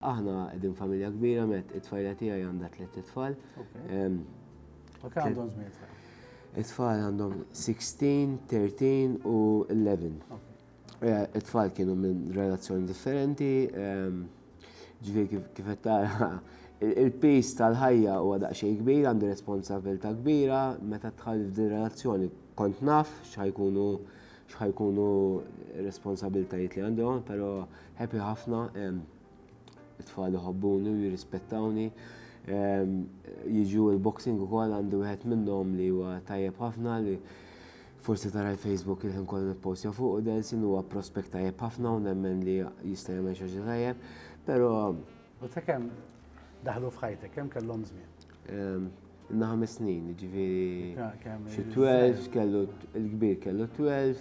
Aħna qegħdin familja kbira met it-tfajla tiegħi għandha tliet itfal. U kemm għandhom żmien tfal? It-tfal għandhom 16, 13 u 11. Eh, it-tfal kienu minn relazzjoni differenti, ehm, ġifieri kif qed tara il-pis tal-ħajja huwa daqsxejn kbir, għandi responsabilità kbira, meta tħalli f'din relazzjoni kont naf x'ħajkunu x'ħajkunu responsabiltajiet li għandhom, però Happy ħafna, it-tfal iħobbuni u jirrispettawni. Jiġu il-boxing ukoll għandi wieħed minnhom li huwa tajjeb ħafna li forsi tara l-Facebook il-ħin kollu nippostja fuq u Delsin huwa prospekt tajjeb ħafna u nemmen li jista' jagħmel xi ħaġa tajjeb, però U ta' kemm daħlu f'ħajtek, kemm kellhom żmien? Inna ħames snin, jiġifieri xi 12 kellu l-kbir kellu 12,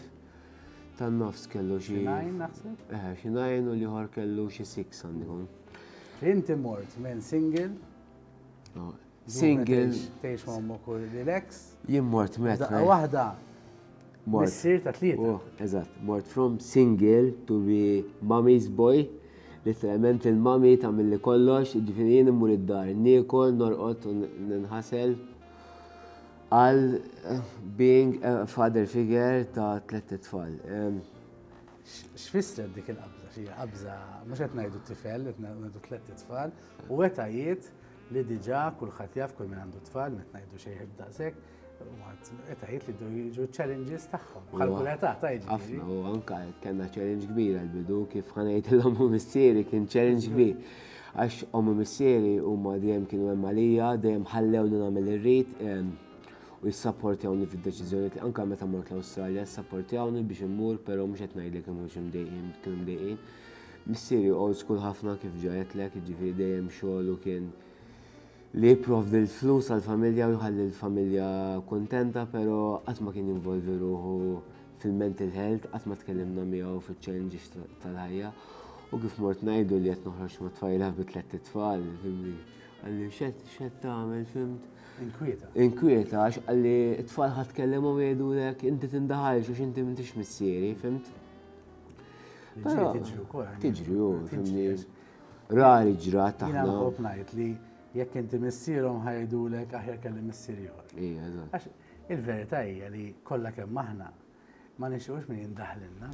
tan-nofs kellu xi. Xinajn naħseb? Eh, xinajn u l-ieħor kellu xi six għandikun. Inti mort minn single. Oh, single. Tgħix ma' ommok u l-ex. Jien mort met. Waħda. Missir ta' tlieta. Oh, eżatt, mort from single to be mommy's boy. Literalment il-mami ta' mill-li kollox, ġifiri jien immur id-dar, niekol, norqot, ninħasel, Għal being a father figure ta' tlett itfal. X'fissret dik il-qabża? Xi qabża mhux qed ngħidu tifel, qed ngħidu tlett itfal, u etajiet li diġà kulħadd jaf kull min għandu tfal, qed ngħidu xejħeb daqshekk, etajiet li jdu jiġu challenges tagħhom. Bħal kull età ta' jiġri. Ħafna, u anke kellna challenge kbir għall-bidu kif ħanejt l-omm u missieri kien challenge kbir. Għax omm u missieri huma dejjem kienu hemm għalija, dejjem ħallewni nagħmel li rrid u jissapportjawni fid-deċiżjonijiet, anke meta mort l-Awstralja, ssapportjawni biex immur, però mhux qed ngħidlek li ma kinux imdejqin, kienu mdejqin. Missieri old school ħafna kif ġa għedtlek, jiġifieri dejjem xogħlu kien li jipprovdi l-flus għall-familja u jħalli l-familja kuntenta pero qatt ma kien jinvolvi ruħu fil-mental health, qatt ma tkellimna miegħu fiċ-challenges tal-ħajja. U kif mort ngħidu li qed noħroġ ma' tfajla bi tliet tfal, fimni. Għalli xed xed tagħmel fimt. Inkwieta. Inkwieta għax għalli t-tfal ħadd kellimhom jgħidulek inti tindaħalx għax inti m'intix missieri, fimt? Tiġri wkoll. Tiġri, fimni. Rari ġrat taħna. Jina nħob najt li jekk inti missierom ħajdulek aħjar kelli missier ieħor. Ija, eżatt. Il-verità hija li kollha kemm aħna ma nixux min jindaħlilna.